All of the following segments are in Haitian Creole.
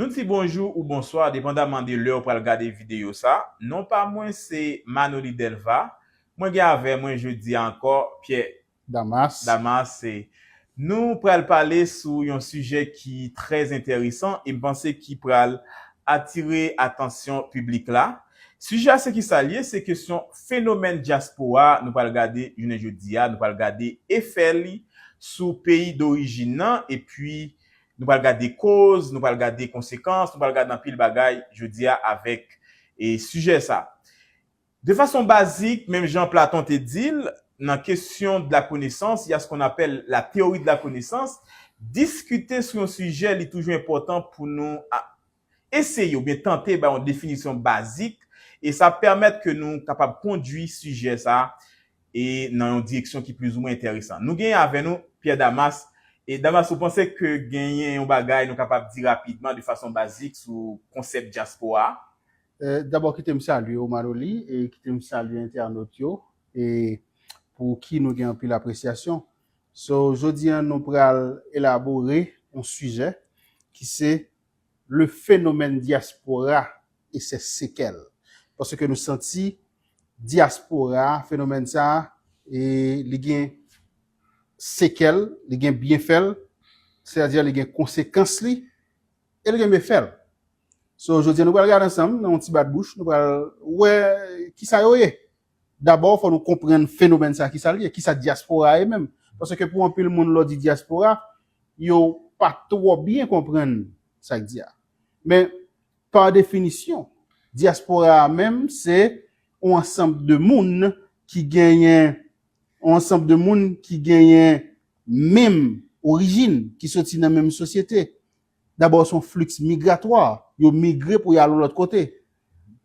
Nou di bonjou ou bonswa depandaman de lè ou pral gade videyo sa, non pa mwen se Manoly Delva, mwen gen avè mwen jodi a ankò Pierre Damas. Damas se. Nou pral pale sou yon sijè ki trè enteresan e m panse ki pral atire atansyon piblik la. Sijè a se kisa l ye? Se kesyon fenomèn dyaspora a nou pral gade jounen jodi a, nou pral gade efè li sou peyi dorijin nan epi nou pral gade koz, nou pral gade konsekans, nou pral gade anpil bagay jodi a avèk sijè sa. De fason bazik, menm jan Platon te di l, nan Questions de la connaissance, ya ce qu'on appelle la théorie de la connaissance, diskite sou yon sijè li toujou enpòtan pou nou eseye oubyen tante bay yon definisyon bazik e sa ap pèmèt ke nou kapab kondui sijè sa e nan yon direksyon ki plizoumwen enteresan. Nou genyen avè nou Pierre Damas. E Damas ou panse ke genyen yon bagay nou kapab di rapidman de fason bazik sou konsèp dyaspora a? Dabò kite m salye ou Maroli e kite m salye entènot yo e pou ki nou gen anpil apresyasyon. So jodi an nou pral elabore on sijè ki se le fenomèn dyaspora e se sekèl. Paske nou santi dyaspora fenomèn sa e li gen sekèl, li gen byenfè l, sètadi li gen konsekans li e li gen mefè l. So, jodi a nou pral gade ansanm nan yon ti bat bouch, nou pral wè kisa yo ye. Dabò fò nou konprann fenomèn sa kisa li ye, kisa dyaspora ye menm. Paske pou anpil moun lè w di dyaspora, yo pa twò byen konprann sa k di a. Men, pa definisyon, dyaspora a menm se yon ansanm de moun ki genyen, yon ansanm de moun ki genyen menm orijin, ki soti nan menm sosyete, Dabò son fliks migratwa, yo migre pou y al yon lòt kote.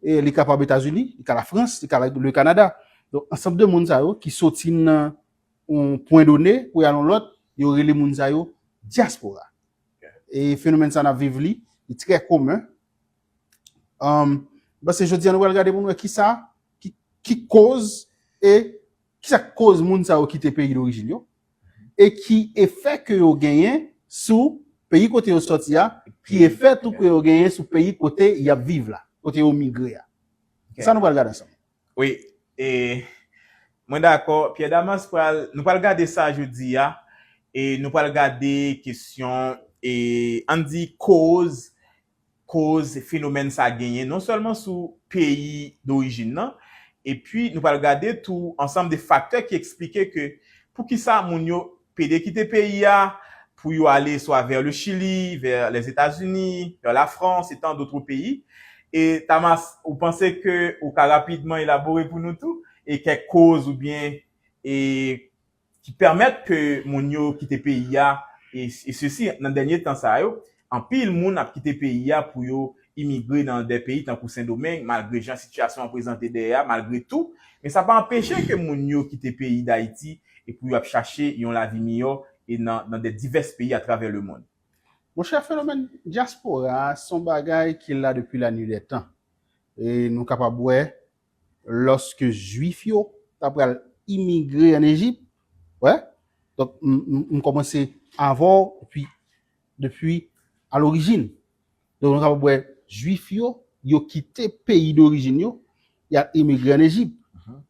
E li kapab Etazini, li ka Lafrans, li ka Le Kanada. Donk ansanm de moun sa yo ki soti nan yon pwen done pou y al yon lòt, yo rele moun sa yo dyaspora. E fenomèn sa n ap viv li, li trè komen. Mwen panse jodi a nou pral gade pou nou wè ki sa, ki koz e ki sa k koz moun sa yo kite peyi dorijin yo e ki efè ke yo genyen sou peyi kote yo sòti a, ki efè tou ke yo genyen sou peyi kote y ap viv la, kote yo migre a. Se sa nou pral gade ansanm. Wi, e mwen dakò. Pyè Damas pral, nou pral gade sa jodi a e nou pral gade kesyon e ann di koz koz fenomèn sa genyen non sèlman sou peyi dorijin nan, epi nou pral gade tou ansanm de faktè ki eksplike ke poukisa moun yo pede kite peyi a pou yo ale swa vè le Chili, vè Lèzetazini, vè la Frans e tan dotre peyi. E Tamas, ou panse ke ou ka rapidman elabore pou nou tou e kèk koz oubyen e ki pèmèt ke moun yo kite peyi a e sesi nan dènye tan sa yo anpil moun ap kite peyi a pou yo imigre nan dè peyi tankou sendomeng malgre jan sitiyasyon an prezante dèyè a malgre tou men sa pa anpeche ke moun yo kite peyi dayiti e pou yo ap chache yon lavi miyò e nan nan dè divès peyi atravè lemond. Monchè fenomèn dyaspora a son bagay ki la depi lanidètan e nou kapab wè lòske jwif yo ta pral imigre an Ejip, wè, donk m kòmanse avè w depi, depi a lorijin. Donk nou kapab wè jwif yo, yo kite peyi dorijin yo, y al imigre an Ejip.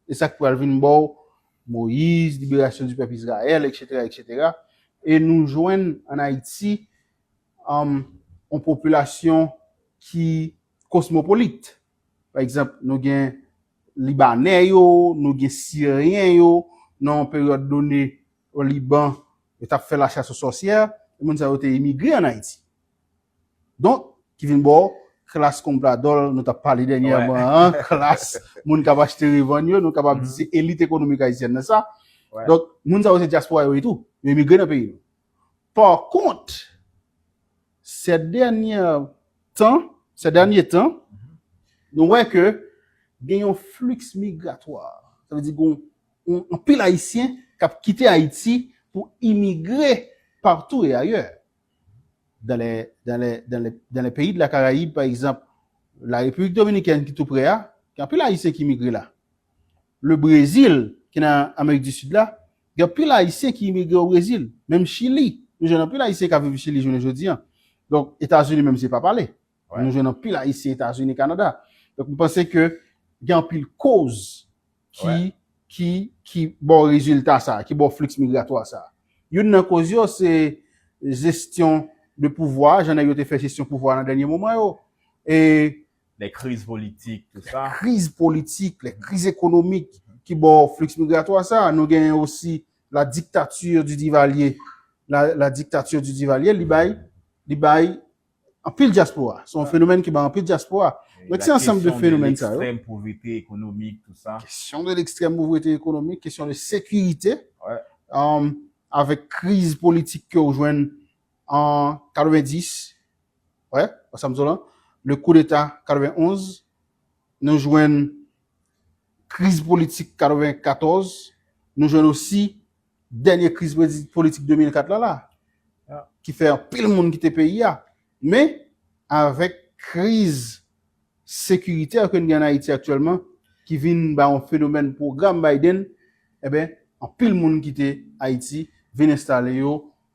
E sa k pral vin ba w Moyiz, liberasyon di pèp Izrayèl, eksetera, eksetera. E nou jwenn an Ayiti yon popilasyon ki kosmopolit. Pa egzanp, nou gen Libanè yo, nou gen Siryen yo, nan yon peryòd done o Liban, yo t ap fè la chasse aux sorcières, moun sa yo te imigre an Ayiti. Donk, ki vin ba w klas konpradòl nou t ap pale dènyèman an, klas moun k ap achte revann yo, nou kapab di se elit ekonomik ayisyèn nan sa. Donk, moun sa yo se dyaspora yo ye tou, yo imigre nan peyi nou. Pakont, sè dènyè tan, sè dènyè tan, nou wè ke gen yon fliks migratwa. Sa vle di gen yon anpil Ayisyen k ap kite Ayiti pou imigre partou e ayè. Dan lè, dan lè, dan lè, dan lè peyi de la Karayib pa egzanp, la Repiblik Dominikèn ki tou prè a, gen anpil Ayisyen ki imigre la. Le Brezil, ki nan Amerik di Sid la, gen anpil Ayisyen ki imigre o Brezil. Menm Chili, nou jwenn anpil Ayisyen k ap viv Chili jounen jodi an. Donk, Etazini menm se pa pale. Nou jwenn anpil Ayisyen Etazini, Kanada. Donk, m panse ke gen anpil koz ki, ki, ki ba w rezilta sa a, ki ba w fliks migratwa sa a. Youn nan koz yo se jestyon de pouvwa, jan nèg yo te fè jestyon pouvwa nan dènye moman yo. E, Lè kriz politik, tout sa. Lè kriz politik, lè kriz ekonomik ki ba w flux migratoire sa. Nou gen osi la dictature du Duvalier. La dictature du Duvalier, li bay, li bay anpil diaspora. Se yon fenomèn ki bay anpil diaspora. Donk se ansanm de fenomèn sa yo. La kesyon de l'extrême pauvreté économique, tout sa. Kesyon de l'extrême pauvreté économique, kesyon de sécurité. Avèk kriz politik ke w jwenn an 90, wè, wè sa m di w lan, le coup d'Etat 91, nou jwenn kriz politik 94, nou jwenn osi dènye kriz politik 2004 la la, ki fè anpil moun kite peyi a. Men, avèk kriz sekiritè ke n gen an Ayiti aktyèlman, ki vin ba yon fenomèn pwogram Biden, eben, anpil moun kite Ayiti, vin enstale yo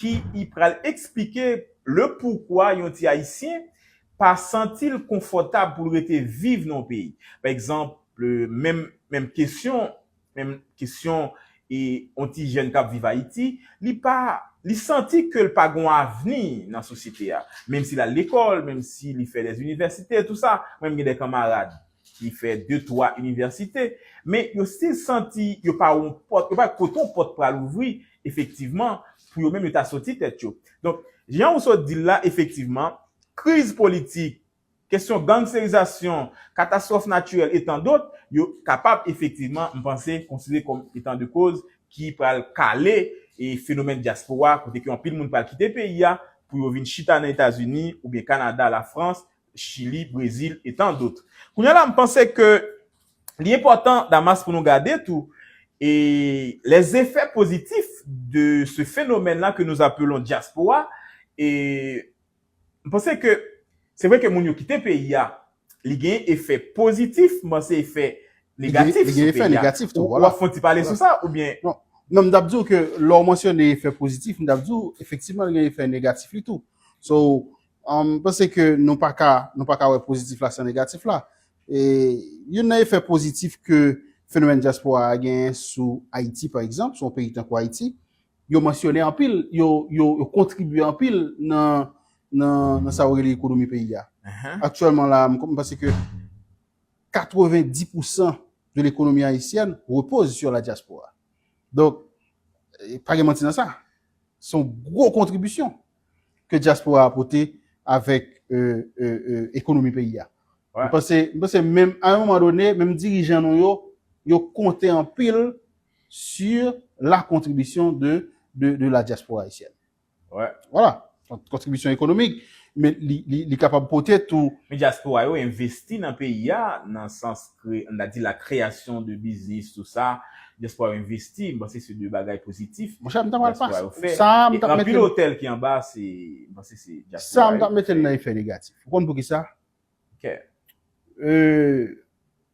ki y pral eksplike le poukwa yon ti Ayisyen pa santi l konfòtab pou l rete viv nan yon peyi. Pa egzanp, menm menm kesyon, menm kesyon e yon ti jèn k ap viv Ayiti, li pa, li santi ke l pa gon avni nan sosyete a. Menm si l al lekòl, menm si li fè dèzinivèsite, tou sa, menm gen dè kanmarad. ki fè de twa inivèsite, men yo stil santi yo pa yon pòt, yo pa wè kote yon pòt pral ouvri efektivman pou yo menm yo ta soti tèt yo. Donk, jan ou sot di l la, efektivman, kriz politik, kesyon gangsterizasyon, katastwòf natirèl e tan dot, yo kapab efektivman, m panse, konsidere kòm etan de koz ki pral kale e fenomèn dyaspora kote ke anpil moun pral kite peyi a pou yo vin chita nan Etazini oubyen Kanada, Lafrans Chili, Brezil et tant d'autres. Kounya la m panse ke li enpòtan Damas pou nou gade tou e les effets positifs de ce phénomène là que nous appelons diaspora e m panse ke se vre ke moun yo kite peyi a li genyen efè positif m panse efè negatif sou peyi a. Ou wap fon ti pale sou sa oubyen? Non m tap di w ke lè w mansyone efè positif m tap di w efektivman li gen efè negatif li tou. So M panse ke nou pa ka nou pa ka wè pozitif la san negatif la. E youn nan efè pozitif ke fenomèn dyaspora a genyen sou Ayiti pa egzanp, sou yon peyi tankou Ayiti, yo mansyone anpil, yo yo kontribye anpil nan nan sa yo rele ekonomi peyi a. Aktyèlman la a m panse ke 90 pousan de lekonomi ayisyèn repoz sur la diaspora. Donk pa gen manti nan sa. Se yon gwo kontribisyon. ke dyaspora a pote avèk ekonomi peyi a. Mwen panse, mwen panse menm a yon moman done, menm dirijan nou yo, yo konte anpil sur la kontribisyon de de la dyaspora ayisyèn. Wè. Wala. Kontribisyon ekonomik. Men li kapab pote tou. Men dyaspora yo envesti nan peyi a nan sans kreye, an ta di la kreyasyon de biznis tou sa, dyaspora yo envesti, m panse se de bagay pozitif dyaspora yo fè, e anpil otèl ki anba se, m panse se dyaspora yo ki fè. Sa a m t ap mete l nan efè negatif. Ou konn poukisa?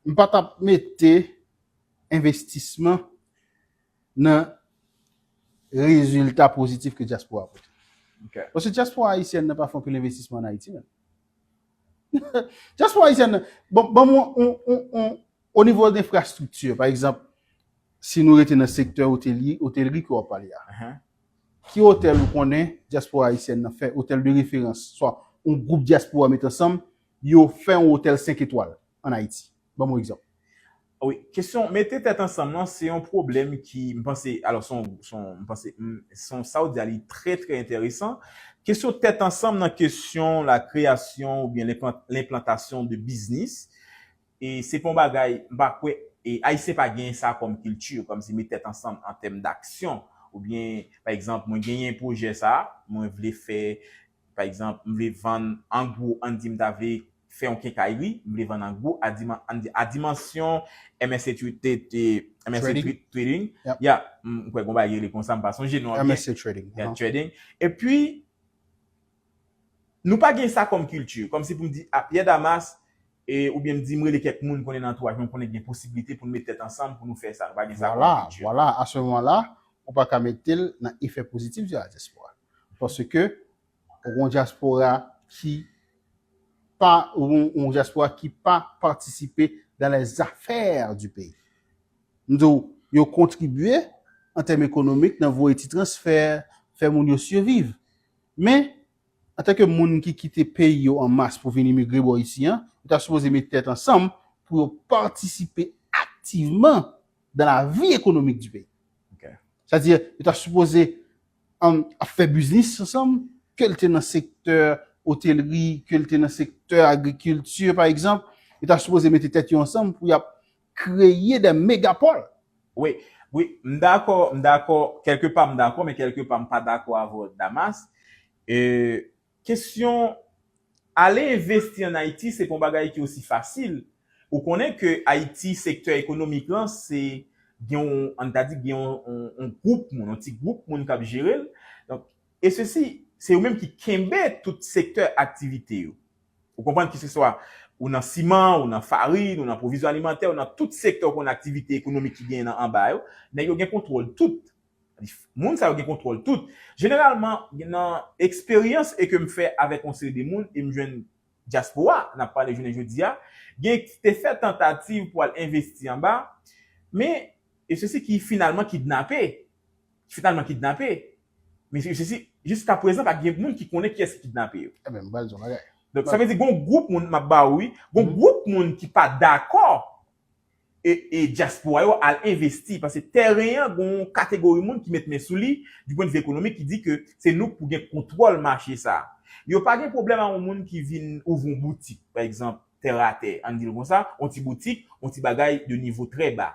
M pa t ap mete envestisman nan rezilta pozitif ke dyaspora pote. Paske dyaspora ayisyèn nan pa fè anpil envestisman an Ayiti menm. Diaspora Haïtienne nan, bon, ban mwen on, on, on, o nivo de infrastructure, pa egzanp, si nou rete nan sektè otelye, otelri ke wap pale a, ki otèl ou konnen Diaspora Haïtienne nan fè, otèl de referans, swa on gwoup Diaspora met ansanm, yo fè on otèl 5 etwal an Ayiti? Ban m yon egzanp. Wi, kesyon mete tèt ansanm lan se yon pwoblèm ki, m panse, alò se yon, se yon, m panse, se yon, sa ou di a li trè trè enteresan. Kesyon tèt ansanm nan kesyon la kreyasyon oubyen lenplantasyon de biznis, e se pa yon bagay, m pa kwè, e Ayisyen pa genyen sa kòm kilti, kòm si met tèt ansanm an tèm daksyon, oubyen, pa egzanp, mwen genyen pwojè sa, mwen vle fè. Pa egzanp, m vle vann an gwo, ann di m ta vle fè yon kenkayri, m vle vann an gwo a diman, ann di a dimansyon MSC Trading, ya, m kwè gen yon bagay ki rele konsa, m pa sonje non an byen. MSC Trading. Ya, Trading. E pi, nou pa gen sa kòm kilti. Kòm si pou m di, a Pierre Damas, e, ou byen m di m rele kèk moun m konnen nan antouwaj mwen, m konnen gen posiblite pou nou met tèt ansanm pou nou fè sa. Nou pa gen sa kòm kilti. Vwala, vwala. A se moman la, ou pa ka mete l nan efè pozitif diaspora. Paske ou gon dyaspora ki pa yon dyaspora ki pa patisipe dan lè zafè di peyi. M di w, yo kontribye an tèm ekonomik nan voye ti transfè, fè moun yo siviv. Men, an tanke moun ki kite peyi yo an mas pou vin imigre bò isi an, yo ta sipoze met tèt ansanm pou yo patisipe aktivman dan lavi ekonomik di peyi. Sa di, yo ta sipoze ap fè biznis ansanm, ke l te nan sektè otelri, ke l te nan sektè agrikilti pa egzanp, yo ta sipoze mete tèt yo ansanm pou y ap kreye dè megapòl. Wi, wi, m dakò, m dakò, kèlke pa m dakò men kèlke pa m pa dakò avè w Damas. Kesyon ale envesti an Ayiti se pa yon bagay ki osi fasil. Ou konnen ke Ayiti sektè ekonomik lan se gen yon, an n ta di gen yon gwoup moun, yon ti gwoup moun k ap jere l. Donk, e sesi, se yo menm ki kenbe tout sektè aktivite yo. Ou konprann keseswa ou nan siman, ou nan farin, ou nan pwovizyon alimantè, ou nan tout sektè ou konn aktivite ekonomik ki genyen nan anba yo, nèg yo gen kontwòl tout. Moun sa yo gen kontwòl tout. Jeneralman, nan eksperyans e ke m fè avèk yon seri de moun e m jwenn dyaspora n ap pale jounen jodi a, gen ki te fè tantativ pou al envesti anba, men yo se si ki finalman kidnape, ki finalman kidnape, men yo se si jiska prezan pa gen moun ki konnen kiyès ki kidnape yo. Enben, m pral di yon bagay. Donk sa vle di gen yon gwoup moun, m ap ba ou wi, gen yon gwoup moun ki pa dakò e dyaspora yo al envesti paske tèren an gen yon kategori moun ki met men sou li di pwendvi ekonomik ki di ke se nou k pou gen kontwòl mache sa. Yo pa gen pwoblèm a yon moun ki vin ouvri yon boutik pa egzanp tè a tè an n di l konsa yon ti boutik yon ti bagay de nivo trè ba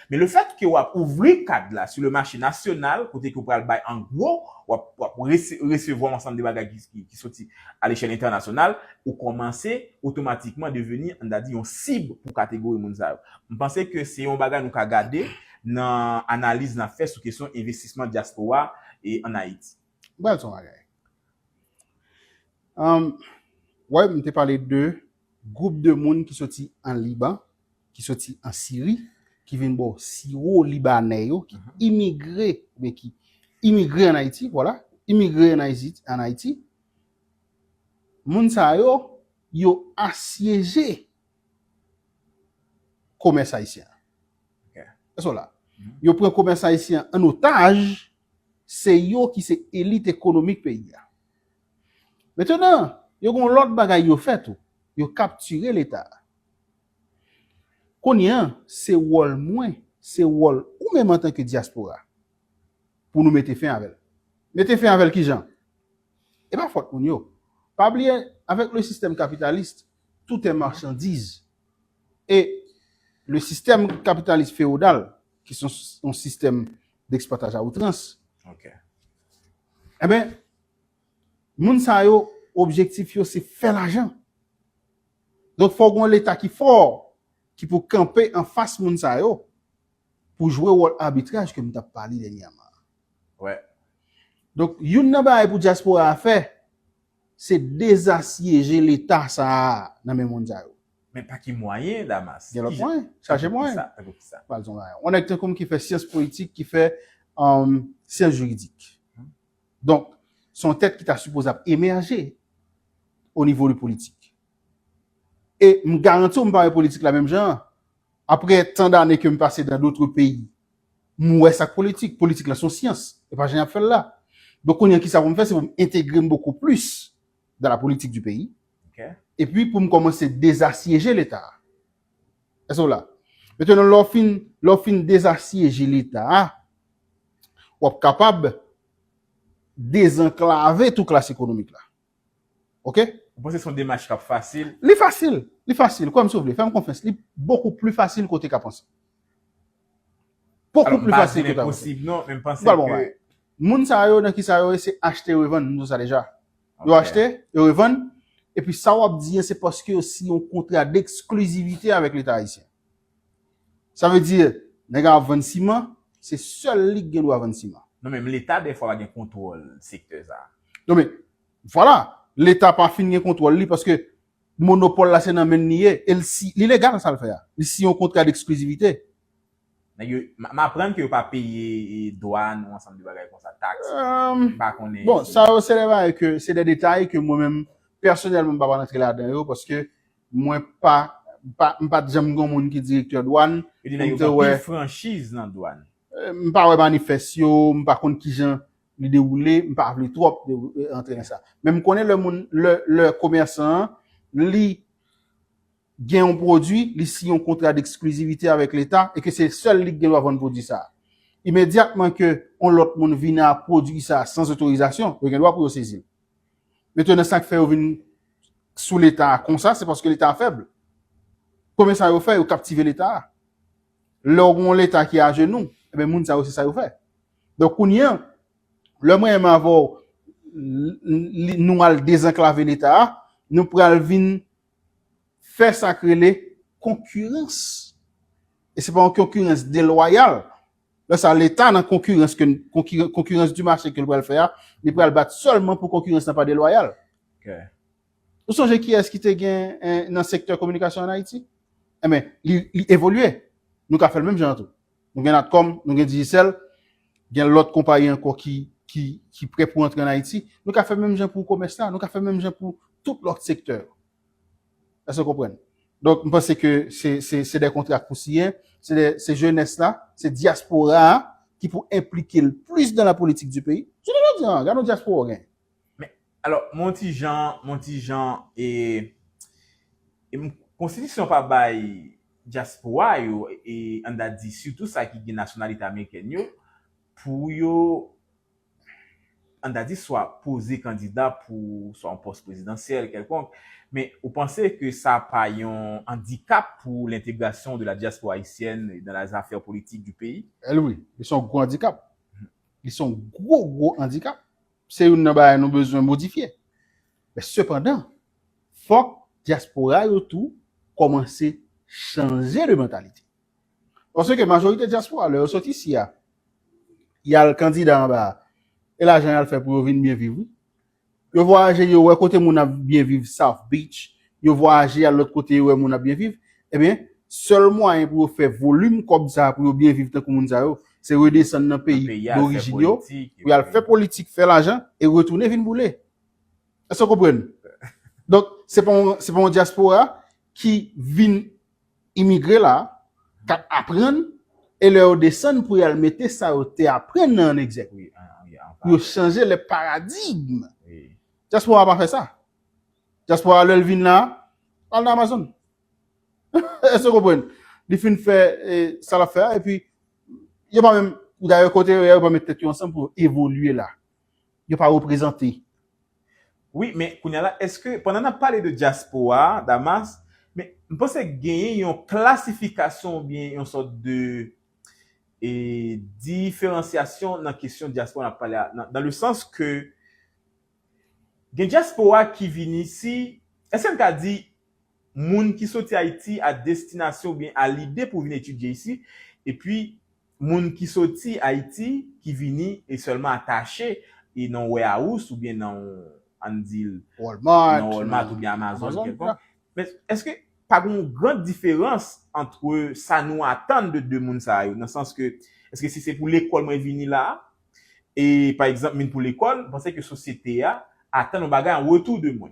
men le fèt ke w ap ouvri kad la sou le mache nasyonal kote ke w pral bay an gwo w ap resevwa yon ansanm de bagay ki soti A lechèl entènasyonal, ou kòmanse otomatikman deveni, an ta di, yon sib pou kategori moun sa yo. M panse ke se yon bagay nou ka gade nan analiz n ap fè sou kesyon envestisman dyaspora ann Ayiti. M pral di w yon bagay. Ou wè m te pale de gwoup de moun ki soti an Liban, ki soti an Siri, ki vin bò siwo libanè yo, ki imigre, oubyen ki imigre an Ayiti, vwala, imigre an Ayiti, an Ayiti, moun sa yo, yo asyeje komès ayisyen an. Èske w la? Yo pran komès ayisyen an an otaj, se yo ki se elit ekonomik peyi a. Metenan, yo gen yon lòt bagay yo fè tou, yo kaptire Leta a. Kounye a, se wòl mwen, se wòl ou menm antanke dyaspora, pou nou mete fen avè l. Mete fen avè l ki jan? E pa fòt moun yo. Pa bliye, avèk le sistèm kapitalis, tout è marchandiz. E le sistèm kapitalis fewodal, ki se yon sistèm deksplwataj a outrans, enben, moun sa yo, objektif yo se fè lajan. Donk fò gon leta ki fò ki pou kanpe anfas moun sa yo pou jwe wòl abitraj ke m tap pale dènyaman an. Wè. Donk youn nan bagay pou dyaspora a fè se dezasyeje leta sa a nan men moun sa yo. Men pa ki mwayen Damas? Gen lòt mwayen. Chaje mwayen. Tankou kisa? Tankou kisa? Pral di w mwayen. On nèg tankou m ki fè syans politik, ki fè syans jiridik. Donk, se yon tèt ki ta sipoze ap emèje o nivo de politik. E m garanti w m pa wè politik la menm jan an. Aprè tan dane ke m pase dan dotre peyi, m wè sa k politik. Politik la se yon syans, e pa jan y ap fè l la. Donk, kounye an ki sa pou m fè, se pou m entegre m bokou plis dan la politik di peyi, epi pou m kòmanse dezasyeje Leta a. Èske w la? Metèndan lè w fin, lè w fin dezasyeje Leta a, w ap kapab dezanklave tou klas ekonomik la. Ok? Ou panse se yon demach k ap fasil? Li fasil! Li fasil! Kwè m si w vle. Fè m konfyans. Li bokou pli fasil ke w te ka panse. Bokou pli fasil ke w te ka panse. Alò, m pa di l enposib non, men m panse ke. Moun sa yo, nan ki sa yo ye? Se achte revann. Nou di sa deja. Yo achte, yo revann, epi sa wap di an se paske yo siyen yon kontra d'exclusivité avèk leta ayisyen. Sa vle di nèg a ap vann siman, se sèl li ki gen dwa vann siman. Non men leta dèfwa pa gen kontwòl sektè sa a. Non men, vwala, leta pa fin gen kontwòl li paske monopòl la se nan men li ye e li legal sa l fè a. Li siyen yon kontra d'exclusivité. Nèg yo, m aprann ke yo pa peye dwan ou ansanm de bagay konsa, taks, m pa konnen. Bon, sa yo se de bagay ke, se de detay ke mwen menm pèsonèlman m pa pral antre ladan yo paske mwen pa, m pa, m pat janm gen yon moun ki direktè dwan. Yo di nèg yo gen anpil franchiz nan dwan. M pa wè manifès yo, m pa konn kijan li dewoule, m pa vle twòp antre nan sa. Men m konnen lè moun, lè komèsan an li gen yon pwodui, li siyen yon kontra deksklizivite avèk leta e ke se sèl li ki gen dwa vann pwodui sa a. Imedyatman ke yon lòt moun vin a pwodui sa a san otorizasyon, yo gen dwa pou yo sezi l. Metonnen sa k fè yo vin sou leta a konsa, se paske leta a fèb. Konbyen sa yo fè? Yo kaptive leta a. Lè w gen yon leta ki ajenou, enben moun sa yo se sa yo fè. Donk kounye an, lè mwen menm avè w nou al dezanklave leta a, nou pral vin. fè sa k rele konkirans e se pa yon konkirans delwayal lè sa leta nan konkirans ke konkirans di mache ke l pral fè a li pral bat sèlman pou konkirans la pa delwayal ou sonje kiyès ki te gen nan sektè kominikasyon an ayiti enben li evolye nou ka fè l menm jan an tou. Nou gen Natcom, nou gen Digicel, gen lòt konpayi ankò ki ki prè pou antre an Ayiti. Nou ka fè menm jan pou komès la, nou ka fè menm jan pou tout lòt sektè yo. Èske nou konprann? Donk, m panse ke se se se dè kontra k pou siyen, se dè se jenès la, se dyaspora a ki pou enplike l plis dan lapolitik di peyi. Jounen jodi an, gad yon dyaspora w gen. Men, alò, m'on ti jan, m'on ti jan, e, e m, konstitisyon pa bay dyaspora yo, e, an ta di, sitou sa ki gen nasyonalite amerikèn yo, pou yo, an ta di, swa poze kandida pou swa yon pòs prezidansyèl kèlkonk, men ou panse ke sa pa yon andikap pou lentegrasyon de la diaspora haïtienne dans les affaires politiques du pays? Wi, li se yon gwo andikap. Li se yon gwo, gwo andikap. Se youn nan bagay nou bezwen modifye. Men sepandan, fòk dyaspora yo tou kòmanse chanje de mantalite. Paske majorite dyaspora lè yo sot isi a, y al kandida anba a, e lajan y al fè pou yo vin byen viv wi. Yo vwayaje yo wè kote moun ap byen viv, South Beach, yo vwayaje y al lòt kote yo wè moun ap byen viv, Ebyen, sèl mwayen pou yo fè volim kòb sa a pou yo byen viv tankou moun sa yo, se redesann nan peyi dorijin yo, pou y al fè politik, fè lajan, e retounen vin boule. Èske w konprann? Donk, se pa yon dyaspora ki vin imigre la a, k ap aprann, e lè yo desann pou y al mete sa yo te aprann nan an egzèk, pou yo chanje le paradigme. Dyaspora a pa fè sa. Diaspora lèl vin la al nan Amazon èske ou konprann li fin fè sa lap fè a epi yo pa menm dayè kote yo ye a yo pa met tèt yo ansanm pou evolye la yo pa reprezante. Wi men kounya la èske pandan nap pale de diaspora Damas men m panse genyen yon klasifikasyon oubyen yon sòt de e diferansyasyon nan kesyon diaspora nap pale a nan le sans ke Gen dyaspora ki vini si, èske n ka di moun ki soti Ayiti a destinasyon oubyen a lide pou vin etidye isi, epi moun ki soti Ayiti ki vini e sèlman atache e nan yon warehouse oubyen nan yon an n di l nan Walmart oubyen Amazon kèlkonk, men èske pa gen yon gran diferans antre sa nou atann de 2 moun sa yo nan sans ke èske si se pou lekòl mwen vini la a E, pa egzanp, min pou lekòl, m panse ke sosyete a atann yon bagay an retou de mwen.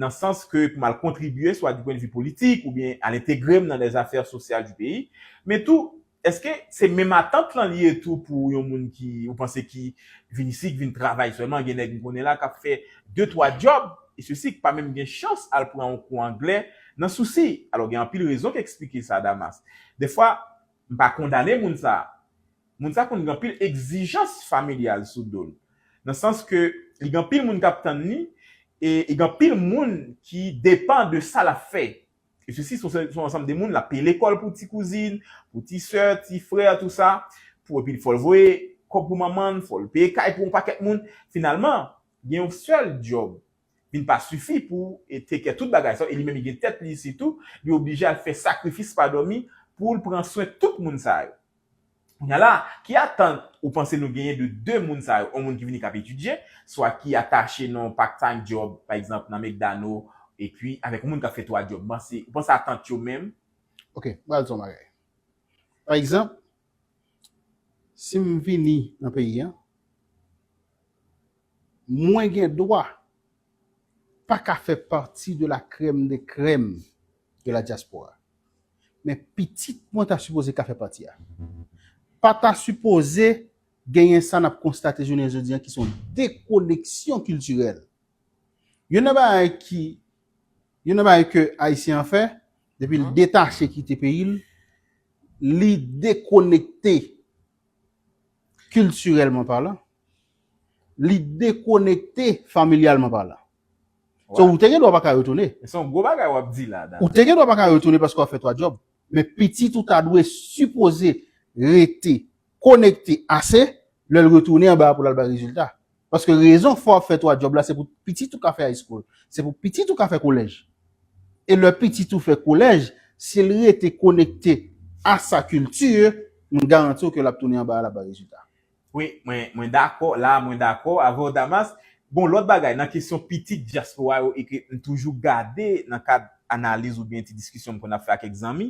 Nan sans ke pou m al kontribye swa di pwendvi politik oubyen al entegre m nan les affaires sociales du pays. Men tou, èske se menm atant lan li ye tou pou yon moun ki, ou panse ki vin isi, ki vin travay sèlman? Gen nèg m konnen la k ap fè de twa djòb e sesi, k pa menm gen chans al pran yon kou angle nan sousi. Alò gen anpil rezon k esplike sa Damas. Dèfwa. M pa kondane moun sa. Moun sa konn gen anpil egzijans familyal sou do l. Nan sans ke li gen anpil moun k ap tann li e li gen anpil moun ki depan de sa l ap fè. E sesi son se son ansanm de moun l ap peye lekòl pou ti kouzin, pou ti sè, ti frè tou sa, pou epi fò l voye kòb pou manman l, fò l peye kay pou yon pakèt moun. Finalman, gen yon sèl djòb vin pa sifi pou e take care tout bagay sa yo e li menm li gen tèt li sitou li oblije al fè sakrifis pa dòmi poul pran swen tout moun sa yo kounya la ki atant ou panse nou genyen de 2 moun sa yo on moun ki vini kap etidye swa ki atache nan on part time job pa egzanp nan mcdano epi avèk on moun kap fè 3 job ou panse atant yo menm Ok m pral di w on bagay pa egzanp Si m vini nan peyi a, mwen gen dwa pa ka fè pati de la krèm de krèm de la dyaspora. Men pitit mwen ta sipoze ka fè pati a. Pa ta sipoze genyen sa n ap konstate jounen jodi a ki se yon dekoneksyon kiltirèl. Youn nan bagay ki, youn nan bagay ke Ayisyen an fè, Depi l detache kite peyi l, li dekonekte kiltirèlman palan, li dekonekte familyalman palan. So ou te gen dwa pa ka retounen. Se yon gwo bagay w ap di la. Ou te gen dwa pa ka retounen paske w ap fè twa djòb. Men pitit ou ta dwe sipoze rete konekte ase lè l retounen anba a pou l al bay rezilta. Paske rezon fè w ap fè 3 djòb la se pou pitit ou ka fè high school, se pou pitit ou ka fè kolèj. E lè pitit ou fè kolèj, si l rete konekte a sa culture, m garanti w ke l ap tounen anba a l ap bay rezilta. Wi, mwen, mwen dakò, la a mwen dakò avè w Damas. Bon, lòt bagay, nan kesyon pitit dyaspora yo e ke m toujou gade nan kad analiz oubyen ti diskisyon m konn ap fè ak kèk zanmi,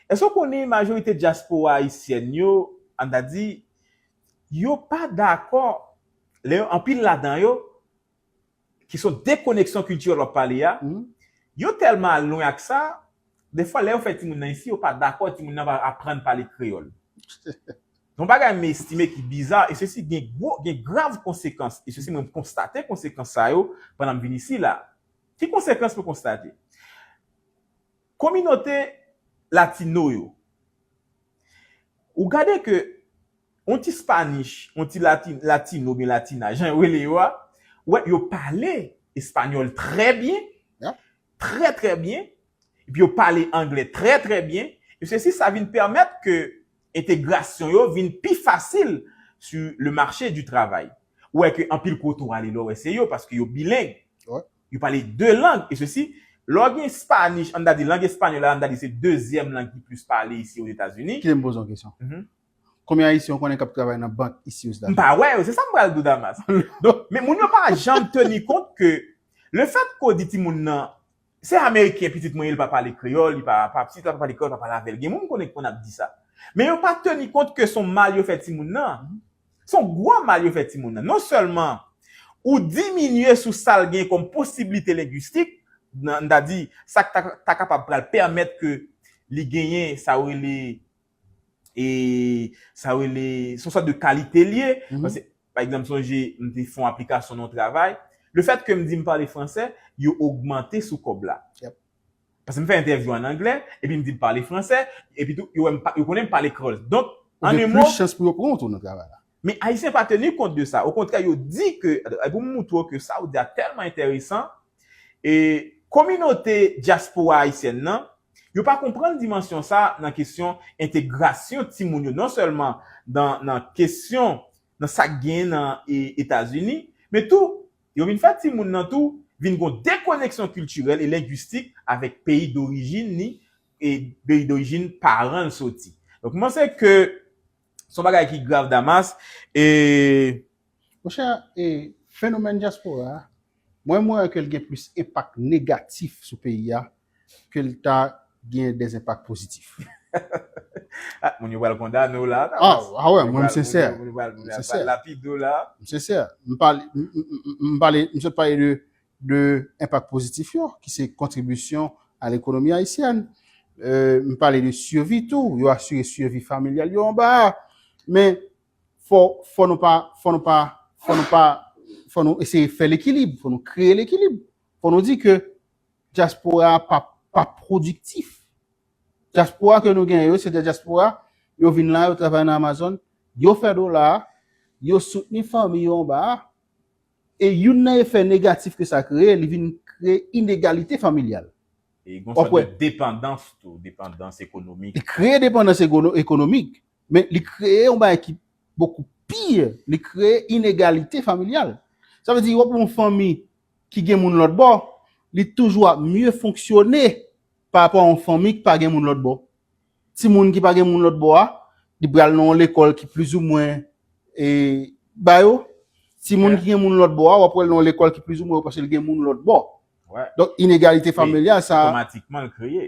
èske w konnen majorite dyaspora ayisyèn yo, an ta di, yo pa dakò lè yo anpil ladan yo ki son dekoneksyon kiltirèl wap pale a yo tèlman al lwen ak sa defwa lè yo fè timoun nan isi yo pa dakò timoun nan va aprann pale kreyòl yon bagay m estime ki biza e sesi gen gwo gen grav konsekans e sesi mwen konstate konsekans sa yo pandan m vin isi la ki konsekans mwen konstate. Kominote Latino yo. Ou gade ke yon ti Spanish, yon ti Latino oubyen Latina, jan yo rele yo a, ou wè yo pale Espanyòl trè byen, trè trè byen, epi yo pale Anglè trè trè byen, e sesi sa vin pèmèt ke entegrasyon yo vin pi fasil sur le marché du travail. Ou wè ke anpil kote ou ale la ou wè se yo, paske yo bileng. Yo pale de lang e sesi. Lè w gen Spanish, ann ta di lang espanyòl la, ann ta di se dezyèm lang ki plis pale isi Ozetazini. Kite m poze w yon kesyon. Konbyen Ayisyen ou konnen k ap travay nan bank isi Ozetazini? M pa wè yo, se sa m pral di w Damas. Donk, men moun yo pa janm teni kont ke lefètke w di timoun nan, se Ameriken pitit mwen ye, li pa pale kreyòl, li pa, pitit la pa pale kreyòl, pa pale avè l. Gen moun m konnen ki konn ap di sa. Men yo pa teni kont ke s on mal yo fè timoun nan. Se yon gwo mal yo fè timoun nan. Non sèlman ou diminye sou sa l gen kòm posiblite lengwistik, m ta di sa k ta kapab pral pèmèt ke li genyen sa yo rele, sa yo rele, se yon sòt de kalite l ye. Paske, pa egzanp, m sonje m te fè yon aplikasyon nan yon travay, lefètke m di m pale fransè, yo ogmante sou kòb la. Paske m fè entèvyou an anglè, epi m di m pale fransè, epi tou, yo wè m, yo konnen m pale kreyòl. Donk, an Ou gen plis chans pou yo pran w tou nan travay la. Men Ayisyen pa teni kont de sa. Okontrè, yo di ke, e pou m moutre w ke sa ou di a tèlman enteresan, e kominote dyaspora ayisyèn nan, yo pa konprann dimansyon sa a nan kesyon entegrasyon timoun yo non sèlman nan kesyon, nan sa k genyen nan Etazini, men tou Yo vin fè timoun nan tou vin gon dekoneksyon kiltirèl e lengwistik avèk peyi dorijin ni e peyi dorijin paran l soti. Donk m panse ke s on bagay ki grav Damas e. Monchè, e fenomèn dyaspora a, mwen m wè ke l gen plis enpak negatif sou peyi a ke l ta gen des enpak pozitif. Ah moun yo pral kondane w la. Ah wè mwen m sensè. Moun yo pral lapide w la. M sensè. M pale, m pale, m sot pale de enpak pozitif yo ki se kontribisyon a lekonomi ayisyèn. M pale de sivi tou, yo asire sivi familyal yo anba a. Men fò, fò nou pa, fò nou pa, fò nou pa, fò nou eseye fè lekilib, fò nou kreye lekilib. Fò nou di ke. Dyaspora a pa pa pwodiktif. Dyaspora ke nou genyen yo, se de dyaspora, yo vin la, yo travay nan Amazon, yo fè dola, yo soutni fanmi yo anba a, e youn nan efè negatif ke sa kreye, li vin kreye inegalite familyal. E gon sòt de depandans tou, depandans ekonomik. Li kreye depandans ekonomik, men li kreye yon bagay ki bokou pi, li kreye inegalite familyal. Sa vle di, wap yon fanmi ki gen moun lòt bò, li toujou ap mye fonksyone pa rapò a yon fanmi ki pa gen moun lòt bò. Timoun ki pa gen moun lòt bò a, li pral nan yon lekòl ki plizoumwen e ba yo. Timoun ki gen moun lòt bò a, w ap wè l nan yon lekòl ki plizoumwen yo paske l gen moun lòt bò. Donk, inegalite familyal sa a. Otomatikman l kreye.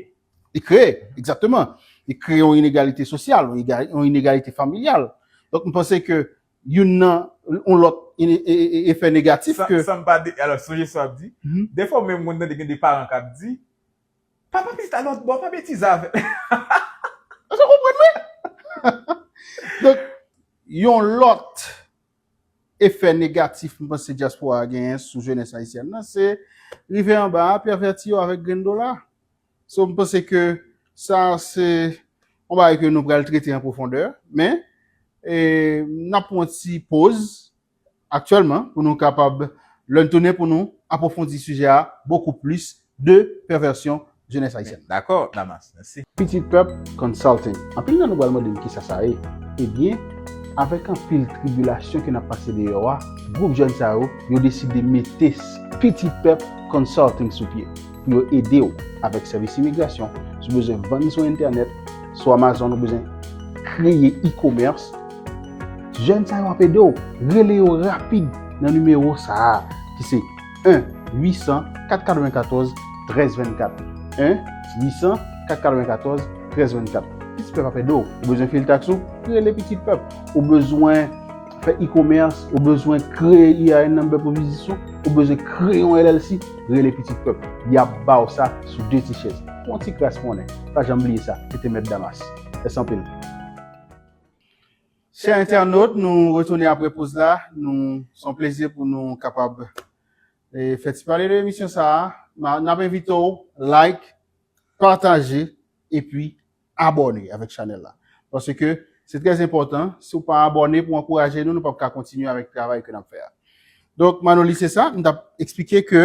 Li kreye, egzakteman. Li kreye yon inegalite sosyal, yon inegalite familyal. Donk, m panse ke youn nan yon lòt efè negatif ke. San m pa de, alò sonje sa w ap di, dèfwa ou menm konn tande gen de paran k ap di, Pa pa pita lòt bò, pa betize avè l. Èske w konprann mwen? Donk, yon lòt efè negatif m panse dyaspora a genyen sou jenès ayisyèn nan se rive anba a, pèvèti yo avèk grenn dola. So m panse ke sa se yon bagay ke nou pral trete an pwofondè, men n ap pran yon ti poz aktyèlman pou nou kapab lè n tounen pou nou apwofondi sijè a bokou plis de pèvèsyon jenès ayisyèn. Dakò Damas, mèsi. Pitit Pèp Consulting Anpil nan nou pral mande m kisa sa ye? Ebyen, avèk anpil tribilasyon ke n ap pase deyò a, gwoup jèn sa yo, yo deside mete Pitit Pèp Consulting sou pye. pou yo ede ou avèk sèvis imigrasyon, sou bezwen vann sou entènèt, sou Amazon ou bezwen kreye e-commerce, jèn sa yo ap ede ou. Rele yo rapid nan nimewo sa a ki se 1 800 494 1324, 1 800 494 1324. Pitit pèp ap ede ou. Ou bezwen fil taks ou? Rele pitit pèp. Ou bezwen. fè e-commerce, ou bezwen kreye EIN number pou biznis ou, ou bezwen kreye yon LLC, rele pitit pèp. Yap baw sa sou 2 ti chèz. Pou yon ti kras monnen. Pa janm bliye sa, e te mèt Damas. Mèsi anpil. Chè entènot, nou retounen apre poz la. Nou, se yon plezi pou nou kapab e fè ti pale de emisyon sa a. Nap envite w like, pataje, epi. abòne avèk chanèl la. Pase ke se trè enpòtan, si w pa abòne pou ankouraje nou, nou pap ka kontinye avèk travay ke nap fè a. Donk Manoli se sa, m tap eksplike ke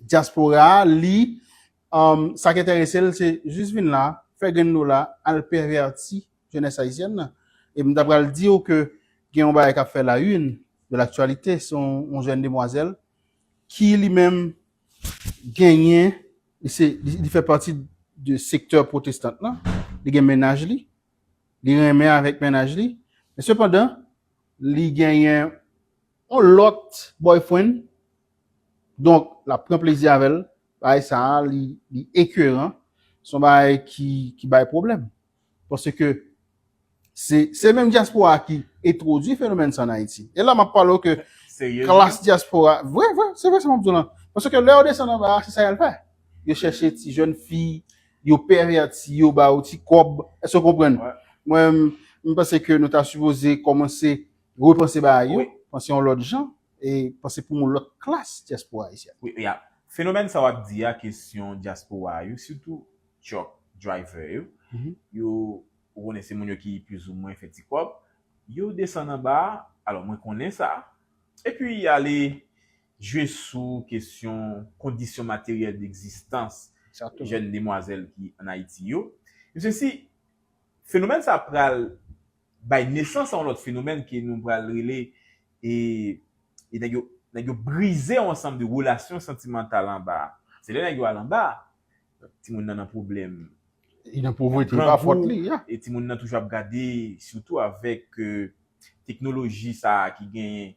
dyaspora a li sa k enterese l se jis vin la, fè grenn dola, al pèvèti jenès ayisyèn nan. E m ta pral di w ke gen yon bagay kap fè la une de laktyalite, se yon jèn demwazèl ki li menm genyen, li se, li fè pati de sektè pwotestant lan, li gen mennaj li, li renmen avèk mennaj li, men sepandan, li genyen yon lòt boyfriend, donk, l ap pran plezi avè l, bagay sa a, li ekeran, s on bagay ki bay pwoblèm. Paske se se menm dyaspora a ki entwodui fenomèn sa an Ayiti. E la m ap pale w ke klas dyaspora, vre vre, se vre sa m ap di w lan. Paske lè yo desann anba a, se sa y al fè. Yo chèche ti jèn fi, yo pèvèti yo, ba yo ti kòb. Èske w konprann? Mwen menm, m panse ke nou ta sipoze kòmanse repanse bagay yo, panse yon lòt jan e panse pou yon lòt klas dyaspora ayisyèn. Wi, e a, fenomèn sa w ap di a, kesyon dyaspora a yo, sitou truck driver yo, yo ou konnen se moun yo ki plis ou mwen fè ti kòb, yo desann anba, alò mwen konnen sa, epi ale jwe sou kesyon kondisyon materyèl degzistans jèn demwazèl ki an Ayiti yo. Mesye si fenomèn sa pral bay nesans a yon lòt fenomèn ke nou pral rele e nèg yo nèg yo brize yon ansanm de relasyon santimantal anba, se lè nèg yo al anba Timoun nan nan pwoblèm. Li nan povrete, se pa fòt li. E timoun nan toujou ap gade, sitou avèk teknoloji sa a ki genyen,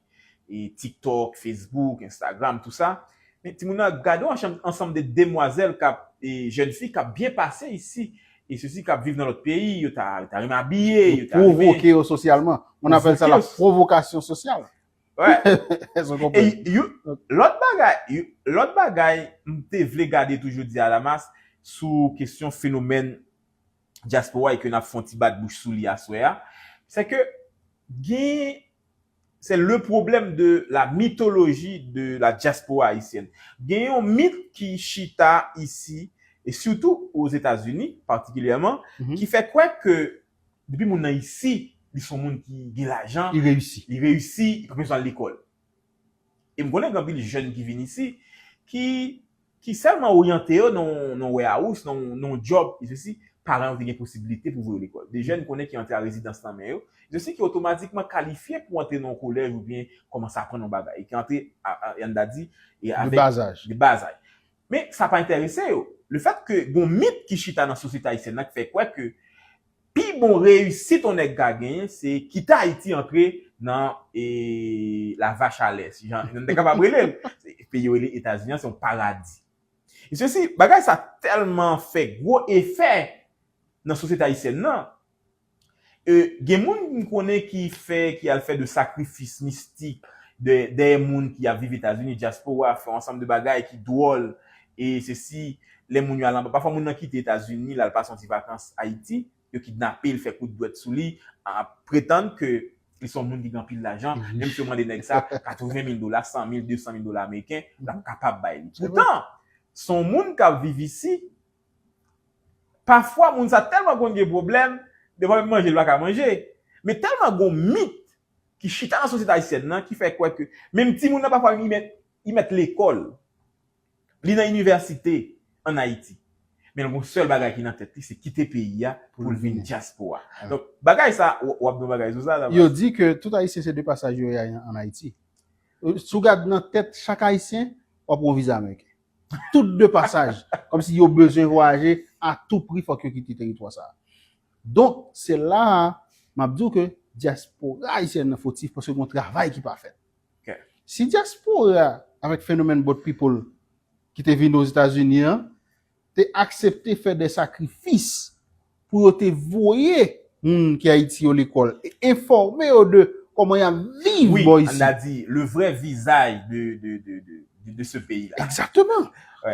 TikTok, Facebook, Instagram, tout sa. Men timoun nan ap gade yon ansanm de demwazèl k ap, jèn fi k ap byen pase isi, e sesi k ap viv nan lòt peyi, yo ta renmen abiye, yo ta renmen. Pwovoke yo sosyalman. Moun apèl sa la pwovokasyon sosyal. Lòt bagay, lòt bagay m te vle gade tou jodi a Damas sou kesyon fenomèn dyaspora e ke n ap fè yon ti bat bouch sou li aswè a, se ke gen, se le pwoblèm de la mitoloji de la dyaspora ayisyèn. Gen yon mit ki chita isi, e sitou o Zetazini patikilyèman, ki fè kwè ke Depi moun nan isi, li son moun ki gen lajan, li reyisi, li pa bezwen al lekòl. E m konnen gen anpil jèn ki vin isi, ki sèlman oryante yo nan yon warehouse, nan yon djòb, paran yo te gen posibilite pou voye yo lekòl. De jèn m konnen ki antre a rezidans nan men yo, ki otomatikman kalifye pou antre nan yon kolèj oubyen kòmanse aprann yon bagay, ki antre, an n ta di, de bazaj. Men, sa pa enterese yo. Le fèt ke gen yon mit ki chita nan sosyete ayisyèn nan ki fè kwè ke pi bon reyisit yon nèg ka genyen se kite Ayiti antre nan la vache a lè, si jan nou te kapab rele l. Peyi yo rele Etazini an se yon paradi. E sesi, bagay sa tèlman fè gwo efè nan sosyete ayisyèn nan, E gen moun m konnen ki fè, ki al fè de sakrifis mistik dèyè moun ki ap viv Etazini, dyaspora, fè yon ansanm de bagay ki dwòl e sesi, lè moun yo al anba, pafwa moun nan kite Etazini, l al pase yon ti vakans Ayiti, yo kidnape l, fè kout dwèt sou li, ap pretann ke li se yon moun ki gen anpil lajan, menm si yo mande nèg sa 80 mil dola, 100 mil, 200 mil dola ameriken, l ap kapab bay li. Poutan, se yon moun k ap viv isi, Pafwa moun sa tèlman konn gen pwoblèm, devan menm manje li pa ka manje. Men tèlman gon mit ki chita nan sosyete ayisyèn nan ki fè kwè ke menm timoun nan pafwa menm li mèt lekòl, li nan inivèsite an Ayiti, men l gon sèl bagay ki nan tèt li se kite peyi a pou l vin dyaspora. Donk bagay sa, w ap di yon bagay sou sa Tabas? Yo di ke tout Ayisyen se de pasaj yo ye an Ayiti. Si w gad nan tèt chak Ayisyen, w ap wè yon vize ameriken. tout de pasaj, kòmsi yo bezwen vwayaje a tou pri fòk yo kite teritwa sa a. Donk, se la a m ap di w ke dyaspora ayisyèn nan fotif paske gen yon travay ki pa fèt. Si dyaspora avèk fenomèn boat people ki te vini Ozetazini an te aksepte fè de sakrifis, pou yo te voye moun ki Ayiti yo lekòl e enfòme yo de kòman y ap viv bò isi. Wi, an a di, le vrè vizaj de se peyi la. Ekzakteman.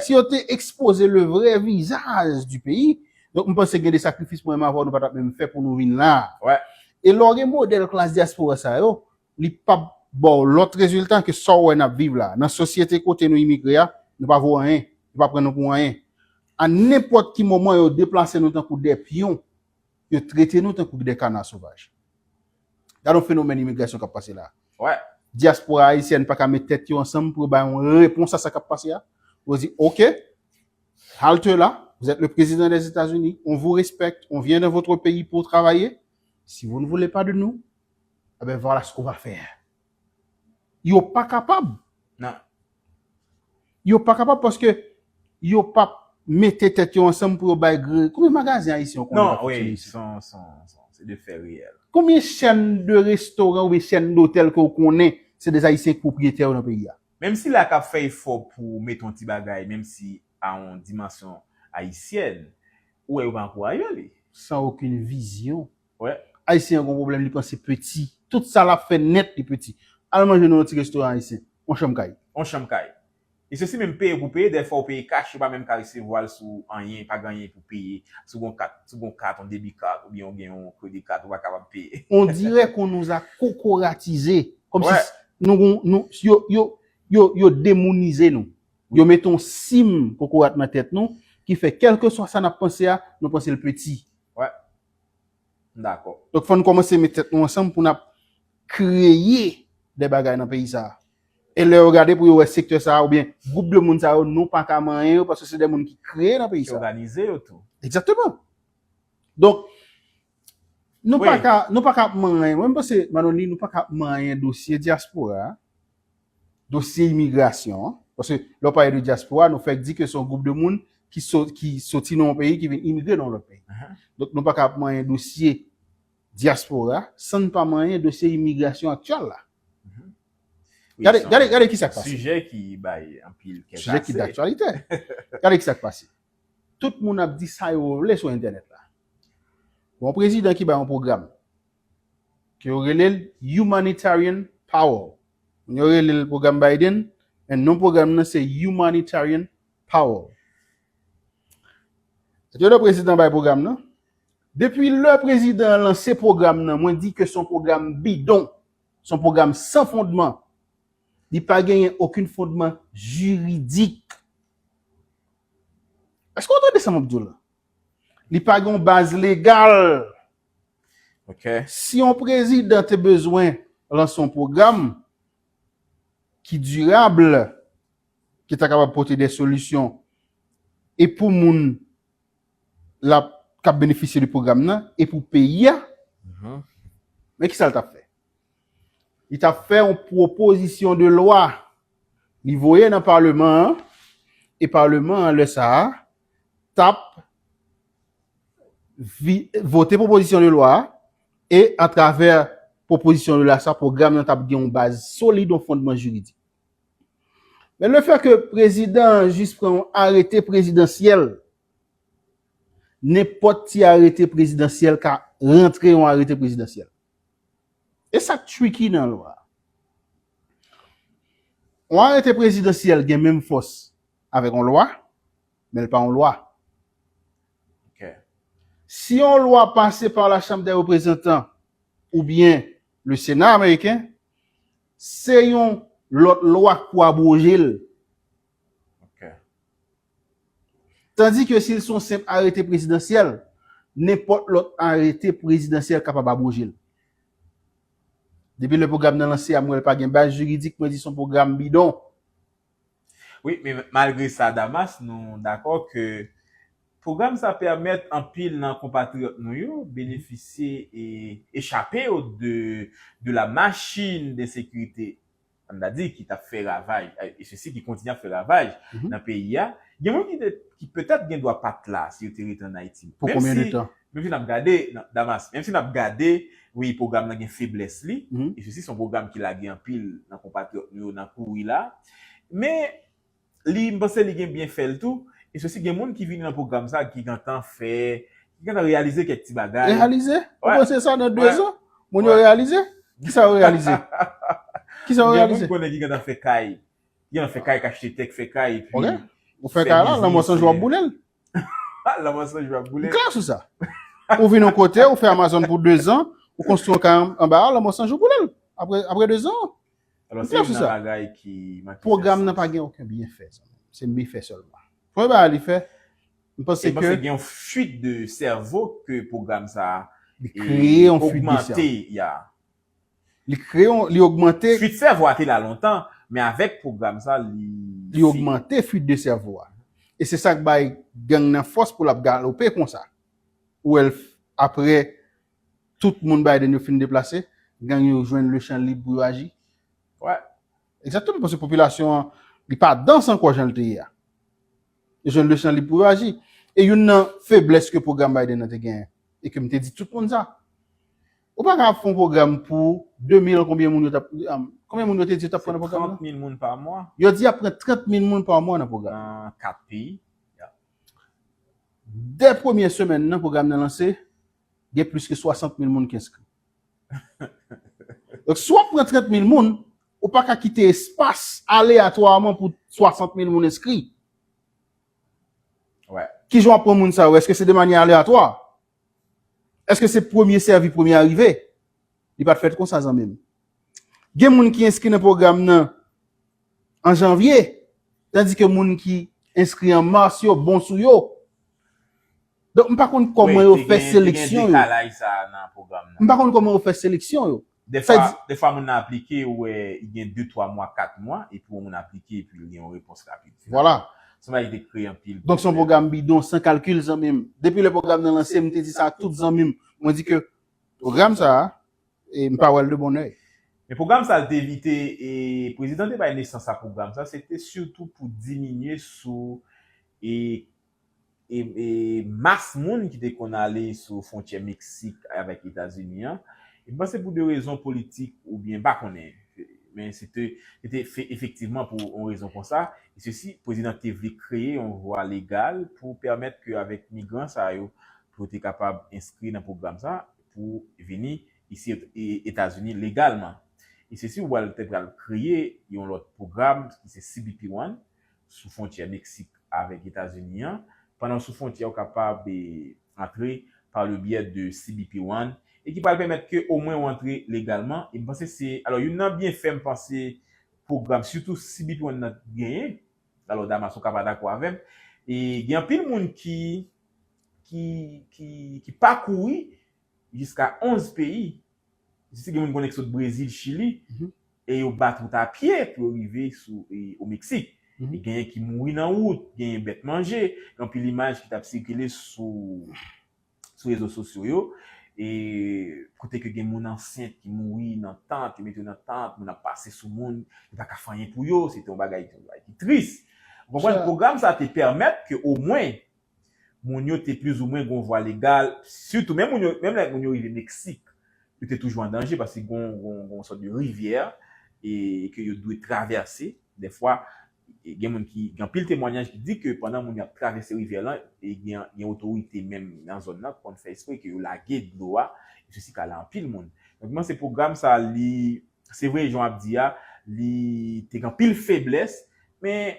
Si yo te ekspoze le vrè vizaj di peyi, donk m panse gen de sakrifis mwen menm avè w nou pa t ap menm fè pou nou vin la a. E lè w gen modèl klas dyaspora sa yo, li pap baw lòt rezilta ke sa w wè nap viv la. Nan sosyete kote nou imigre a, nou pa vo anyen, yo pa pran nou pou anyen. A nenpòt ki moman yo deplase nou tankou de pyon, yo trete nou tankou de kana sovaj. Gade yon fenomèn imigrasyon kap pase la. Dyaspora ayisyèn pa ka met tèt yo ansanm pou yo bay yon repons a sa kap pase a. Yo di ok, halte là, vous êtes le président des États-Unis, on vous respecte, on vient dans votre pays pour travailler, si vous ne voulez pas de nous, Eh ben voilà ce qu'on va faire. Yo pa kapab. Non. Yo pa kapab paske yo pa mete tèt yo ansanm pou yo bay gre. Konbyen magazen ayisyen ou konnen? Non, oui, son, son, son, se de fè reyèl. Konbyen chèn de restoran oubyen chèn dotèl ke ou konnen se des ayisyen ki pwopriyetè yo nan peyi a? Menm sila k'ap fè efò pou mete yon ti bagay menm si a yon dimansyon ayisyèn, ou wè yo pa ankouraje li. Sans aucune vision. Ayisyen an gon pwoblèm li panse peti. Tout sa lap fè nèt li peti. Al manje nan yon ti restoran ayisyen. On chanm kay. On chanm kay. E sesi menm peye pou peye dèyè fòw peye kach yo pa menm ka resevwal sou anyen pa gen anyen pou peye sou gon kat sou gon kat on debi kat oubyen ou gen yon kredi kat ou pa kapab peye. On dirè kon nous a kokoratize kòm si nou gon nou yo yo yo yo demounize nou. Yo mete on sim kokorat nan tèt nou ki fè kèlkeswa sa nap panse a nou pansel peti. M dakò. Donk fò n kòmanse met tèt nou ansanm pou n ap kreye de bagay nan peyi sa a. E lè yo gade pou yo wè sektè sa a oubyen gwoup de moun sa yo nou pa ka manyen yo paske se de moun ki kreye nan peyi sa a. Ki òganize yo tou. Egzakteman. Donk, nou pa ka, nou pa ka ap manyen, mwen m panse Manonli nou pa ka ap manyen dosye dyaspora a. dosye imigrasyon an, paske lè w pale de dyaspora nou fèk di ke se yon gwoup de moun ki soti nan yon peyi ki vin imigre nan yon lòt peyi. Donk nou pa ka ap manyen dosye dyaspora san n pa manyen dosye imigrasyon aktyèl la. Gade kisa k pase. Sijè ki bay anpil kè kase. Sijè ki daktyalitè. Gade kisa k pase. Tout moun ap di sa yo vle sou entènèt la. Gon prezidan ki bay yon pwogram ke yo rele l Humanitarian Power. Moun yo rele l Pwogram Biden, men non pwogram nan se Humanitarian Power. Lè yo lè prezidan bay pwogram nan, depi lè prezidan an lanse pwogram nan, mwen di ke son pwogram bidon, son pwogram san fondman, li pa genyen okenn fondman jiridik. Èske ou tande sa m ap di w la? Li pa gen yon baz legal Ok. Si yon prezidan te bezwen lanse yon pwogram ki dirab, ki ta kapab pote de solisyon e pou moun lap kap benefisye de pwogram nan e pou peyi a, men kisa l tap fè? Li tap fè yon pwopozisyon de lwa li voye nan paleman an e paleman an lè sa a tap vote pwopozisyon de lwa a e atravè pwopozisyon de lwa sa pwogram nan t ap gen yon baz solid, yon fondman jiridik. Men le fè ke prezidan an jis pran yon arete prezidansyèl, nenpòt ti arete prezidansyèl ka rantre yon arete prezidansyèl. E sa k tricky nan lwa a. Yon arete prezidansyèl gen menm fòs avèk yon lwa. men l pa yon lwa. Ok. Si yon lwa pase pa la Chanm dè Reprezantan oubyen le Sena ameriken, se yon lòt lwa k pou abwoje l. Ok. Tandi ke si l se yon senp arete prezidansyèl, nenpòt lòt arete prezidansyèl kapab abwoje l. Depi lè pwogram nan lanse a, m wè l pa gen baz jiridik, mwen di se yon pwogram bidon. Wi, men malgre sa Damas nou dakò ke pwogram sa pèmèt anpil nan konpatriyòt nou yo benefisye e echape yo de la machine d'insécurité an ta di ki t ap fè ravaj e sesi ki kontinye ap fè ravaj nan peyi a. Gen moun ki petèt gen dwa pa t la si yo te rete an Ayiti. Pou konbyen de tan? Menmsi nap gade Damas, menmsi nap gade wi pwogram nan gen feblès li, e sesi son pwogram ki lage anpil nan konpatriyòt nou yo nan kouri la, men li m panse li gen byenfè l tou, e sesi gen moun ki vini nan pwogram sa ki gentan fè, ki gentan reyalize kèk ti bagay. Reyalize? Ou panse sa nan 2 zan? Moun yo reyalize? Kisa yo reyalize? Kisa yo reyalize? Gen moun m konnen ki gentan fè kay, ki gentan fè kay, ki achte tè, ki fè kay epi. Ok. Ou fè kay la, lanmò san jou wap boule l. Klè sou sa. Ou vin yon kote, ou fè Amazon pou 2 zan, ou konstwi yon kay anba a, lanmò san jou boule l. Apre 2 zan. M klè sou sa. Pwogram nan pa gen oken byenfè. Se mifè sèlman. Premye bagay li fè, m panse ke. M panse gen yon fuit de sèvo ke pwogram sa a. Li kreye yon fuit de sèvo. Ogmante ya. Li kreye yon, li ogmante. Fuit sèvo a te la lontan, men avèk pwogram sa li fin. Li ogmante fuit de sèvo a. E se sa k bay gang nan fòs pou l ap galope konsa. Ou wè l aprè tout moun Biden yo fin deplase, gang yo jwenn le chan lib pou yo aji. Wè. Egzakteman, paske popilasyon an, li pa dans ankò jan l te ye a. Yo jwenn le chan lib pou yo aji. E youn nan feblès ke pwogram Biden nan te genyen, e ke m te di tout moun sa, Ou pa ka ap fon program pou 2000 konbyen moun yo tap konbyen moun yo te di yo tap pran nan program nan? Se 30 mil moun pa mwa. Yo di yap pran 30 mil moun pa mwa nan program nan. Nan 4 peyi. Dè premye semèn nan program nan lanse, gen plis ke 60 mil moun ki enskri. Donk si wap pran 30 mil moun, ou pa ka kite espas aleyatwaman pou 60 mil moun enskri. Wè. Kijan wap pran moun sa yo? Eske se de manye aleyatwa? Eske se premye sèvi premye arive? Li pat fèt konsa zanmi m. Gen moun ki enskri nan pwogram nan an janvye tandi ke moun ki enskri an mars yo bon sou yo. Donk m pa konn kòman yo fè seleksyon yo. M pa konn kòman yo fè seleksyon yo. Dèfwa, dèfwa moun nan aplike ou wè li gen 2, 3 mwa, 4 mwa epi wè moun aplike epi li gen yon repons rapid. Vwala. Se yon bagay ki te kreye anpil pwoblèm. Donk se yon pwogram bidon, san kalkil zanmi m. Depi lè pwogram nan lanse m te di sa a tout zanmi m. Mwen di ke pwogram sa a m pa wè l de bon oeil. Men pwogram sa a l te evite e prezidan te bay nesans a pwogram sa a se te sitou pou diminye sou e e mas moun ki te konn ale sou fwontyè Meksik avèk Etazini an, m panse pou de rezon politik oubyen m pa konnen, men se te efektivman pou yon rezon konsa, e se si Prezidan te vle kreye yon vwa legal pou pèmèt ke avèk migran sa yo pou yo te kapab enskri nan pwogram sa pou vini isi Etazini legalman. E se si ou al te pral kreye yon lòt pwogram ki se CBP One, sou fwontyè Meksik avèk Etazini an, pandan sou fwontyè ou kapab antre pa le byè de CBP One e ki pral pèmèt ke omwen ou antre legalman e m panse se alò youn nan byenfè m panse pwogram sitou CBP One nan genyen alò Damas ou ka pa dakò avè m e gen anpil moun ki ki ki pakouri jiska 11 peyi. Disi gen moun konnen ki sot Brezil, Chili e yo bat wout a pye pou yo rive sou o Meksik. Genyen ki mouri nan wout, genyen bèt manje. Gen anpil imaj ki t ap sikile sou sou rezo sosyo yo e kote ke gen moun ansent ki mouri nan tant, yo mete yo nan tant, moun ap pase sou moun, yo pa ka fè anyen pou yo, se te yon bagay ki tris. Ou konprann? Pwogram sa te pèmèt ke omwen moun yo te plizoumwen gen yon vwa legal, sitou menm moun yo, menm lè moun yo rive Meksik, yo te toujou an danje paske gen yon, gen yon sòt de rivyè e ke yo dwe travèse. Dèfwa, gen moun ki, gen anpil temwanyaj ki di ke pandan moun yo ap travèse rivyè lan, e gen, gen otorite menm nan zòn lan ki konn fè espre ke yo lage dlo a, e sesi ka la anpil moun. Donk mwen panse pwogram sa a li, se vre jan w ap di a, li te gen anpil feblès, men,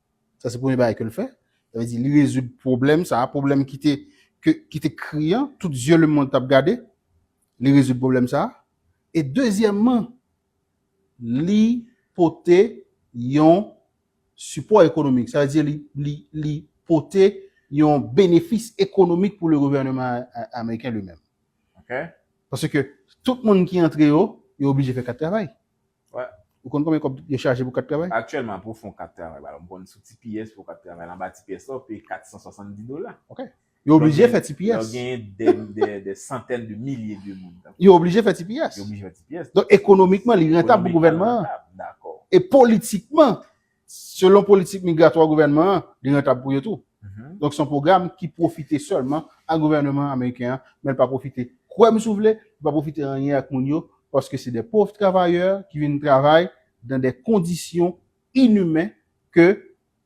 Sa se premye bagay ke l fè. Sa vle di li rezoud pwoblèm sa a, pwoblèm ki te ke ki te kri an, tout zye lemonn t ap gade. Li rezoud pwoblèm sa a. E dezyèmman, li pote yon sipò ekonomik. Sa vle di li li li pote yon benefis ekonomik pou le gouvèneman ameriken li menm. Paske tout moun ki antre yo, yo oblije fè kat travay. Wè. Ou konn konbyen kòb yo chaje pou kat travay? Aktyèlman pou w fè yon kat travay ba m konn sou tps pou w kat travay la anba tps la ou peye 470 dola. Ok. Yo oblije fè tps. Lè w genyen dè santèn de milye de moun. Yo oblije fè tps. Yo oblije fè tps. Donk ekonomikman li rantab pou gouvènman an. Li rantab. Dakò. E politikman. Selon politik migratwa gouvènman an, li rantab pou yo tou. Donk se yon pwogram ki pwofite sèlman a gouvèneman ameriken an, men li pa pwofite, kwè m si w vle, li pa pwofite anyen ak moun yo, paske se de pov travayè ki vin travay dan de kondisyon inimen ke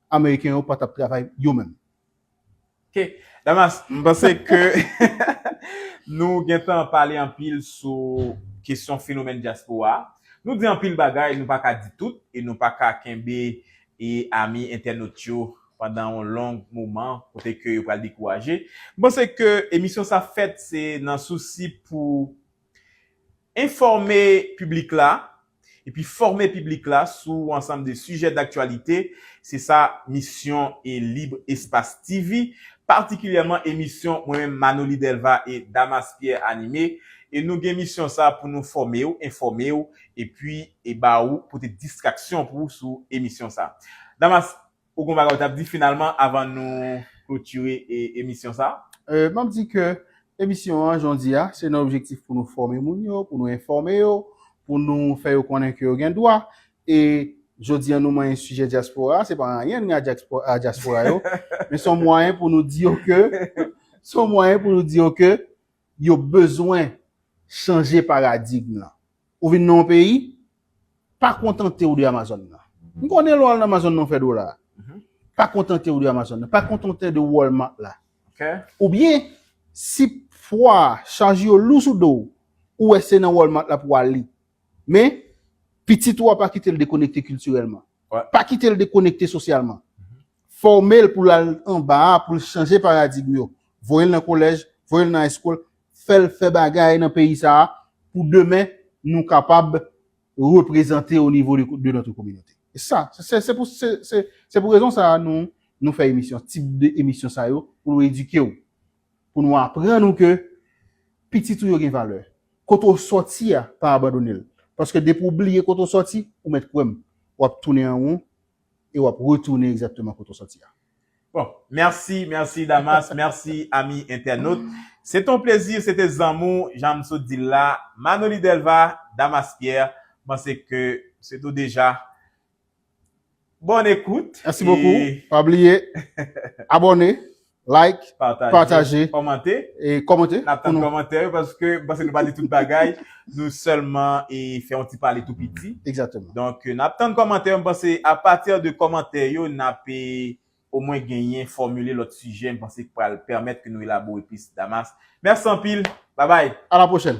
ameriken yo pa t ap travay yo menm. Ok, Damas, m panse ke nou gen tan pale anpil sou kesyon fenomèn dyaspora a. Nou di anpil bagay, nou pa ka di tout e nou pa ka kenbe e ami entènot yo pandan yon long moman kote ke yo pral dekouraje. M panse ke emisyon sa fèt se nan sousi pou Enfòme piblik la epi fòme piblik la sou yon ansanm de sijè daktyalite, se sa misyon e Lib Espas TV, patikilyèman emisyon mwen menm Manoly Delva e Damas Pierre anime, e nou gen misyon sa pou nou fòme w, enfòme w epi e ba ou pote distraksyon pou ou sou emisyon sa. Damas, Ou gen yon bagay ou tap di finalman avan nou klotire emisyon sa? Map di ke emisyon an jondi a se nan objektif pou nou fòme moun yo, pou nou enfòme yo, pou nou fè yo konnen ke yo gen dwa e jodi an nou manyen sijè dyaspora a, se pa anyen nou gen a dyaspora yo men son mwayen pou nou di yo ke son mwayen pou nou di yo ke yo bezwen chanje paradigm lan. Ou vin nan yon peyi, pa kontante w de Amazon nan. M konnen lè w al nan Amazon nan w fè dola. Pa kontante w de Amazon nan. Pa kontante w de Walmart la. Oubyen, si pwa, chaj yo lou sou do w, ou wè se nan Walmart la pou w ale. Men, pitit ou a pa kite l dekonekte kiltirèlman. Pa kite l dekonekte sosyalman. Fòme l pou l al anba a pou l chanje paradigm yo. Voye l nan kolèj, voye l nan high school, fè l fè bagay nan peyi sa a pou demen nou kapab reprezante o nivo de notre communauté. E sa, se pou se pou rezon sa a nou fè emisyon, tip de emisyon sa yo pou nou edike w. pou nou aprann ou ke pitit ou yo gen valè. Kote ou sòti a, pa abandone l. Paske depi ou bliye kote ou sòti, ou mèt kwè m, w ap tounen an won e w ap retounen egzakteman kote ou sòti a. Bon, mèsi, mèsi Damas, mèsi ami entènot. Se te yon plezi, se te zanmou, jan m sot di l la, Manoli Delva, Damas Pierre. M panse ke se tou deja Bonne écoute. Merci beaucoup. Pa bliye abone, like, pataje, komante. E komante. Nap tann komante yo paske m panse nou pa di tout bagay. Nou sèlman e fè yon ti pale tou piti. Exactement. Donk nap tann komante yo m panse a pati de komante yo nap e omwen genyen fòmile lòt sijè m panse ki pral pèmèt ke nou elabore plis Damas. Mèsi anpil. Babay. A la pwochèn.